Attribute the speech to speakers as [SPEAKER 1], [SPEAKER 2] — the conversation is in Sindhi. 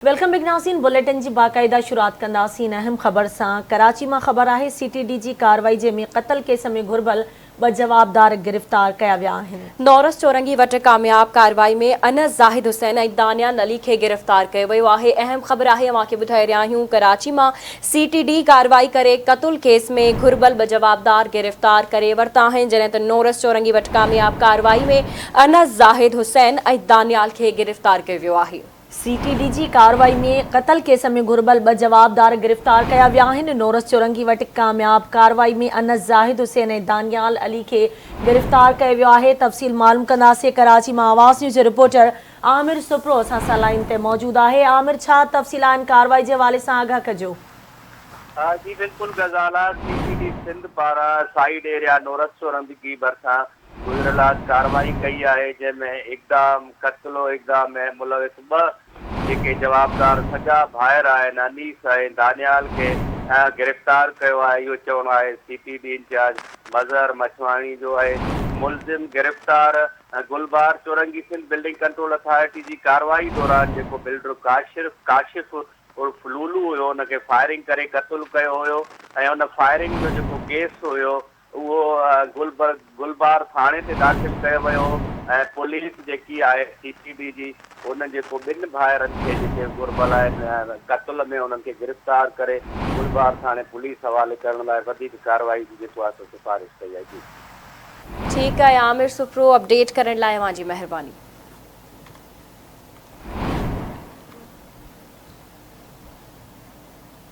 [SPEAKER 1] ويلڪم بيڪ ناظرين بليٽن جي باقاعده شروعات ڪنداسين اهم خبر سان ڪراچي مان خبر آهي سي ٽي ڊي جي ڪارروائي جنهن ۾ قتل ڪيس ۾ گهربل ٻه جوابدار گرفتار ڪيا ويا آهن. نورس چورنگي وٽ
[SPEAKER 2] ڪامياب ڪارروائي ۾ انس زاهد حسين ۽ دانيا نلي کي گرفتار ڪيو ويو آهي اهم خبر آهي اوهان کي ٻڌائي رهيا آهيون ڪراچي مان سي ٽي ڊي ڪارروائي ڪري قتل ڪيس ۾ گهربل ٻه جوابدار گرفتار ڪري ورتا آهن جڏهن ته نورس چورنگي وٽ ڪامياب ڪارروائي ۾ انس زاهد حسين ۽ دانيال کي گرفتار ڪيو ويو آهي. سي ٽي ڊي جي
[SPEAKER 1] ڪارروائي ۾ قتل ڪيس ۾ گهربل ٻه جوابدار گرفتار ڪيا ويا آهن، نورس چورنگي وٽ ڪامياب ڪارروائي ۾ انس زاهد حسين ۽ دانيال علي کي گرفتار ڪيو ويو آهي، تفصيل معلوم ڪنداسين، ڪراچي مان آواز نيوز جو رپورٽر عامر سپرو اسان سان لائين تي موجود آهي، عامر ڇا تفصيل آهن ڪارروائي جي حوالي سان آگاهه ڪجو. جي
[SPEAKER 3] بلڪل Ghazala C T D Sindh پاران سائيڊ ايريا نورس چورندگي ڀرسان گذريل رات ڪارروائي ڪئي آهي جنهن ۾ اقدام قتل و اغوا ۾ ملوث ٻه جيڪي جوابدار سڳا ڀائر آهن انيس ۽ دانيال کي گرفتار ڪيو آهي اهو چوڻو آهي C P D in charge Mazhar Machhwani جو اهي ملزم گرفتار گلبهار چورنگي سنڌ بلڊنگ ڪنٽرول اٿارٽي جي ڪارروائي دوران جيڪو بلڊر ڪاشرف ڪاشف عرف لولو هيو ان کي فائرنگ ڪري قتل ڪيو هيو ۽ ان فائرنگ جو جيڪو ڪيس هيو اهو گلبرگ گلبار ٿاڻي تي داخل ڪيو ويو ۽ پوليس جيڪي آهي سي پي ڊي جي ان جيڪو ٻن ڀائرن کي جيڪي گهربل آهن قتل ۾ انهن کي گرفتار ڪري گلبار ٿاڻي پوليس حوالي ڪرڻ لاء وڌيڪ ڪارروائي جي جيڪو آهي سو سفارش ڪئي آهي جي.
[SPEAKER 2] ٺيڪ
[SPEAKER 3] آهي
[SPEAKER 2] عامر سپرو
[SPEAKER 3] اپڊيٽ
[SPEAKER 2] ڪرڻ لاء اوهان جي
[SPEAKER 3] مهرباني.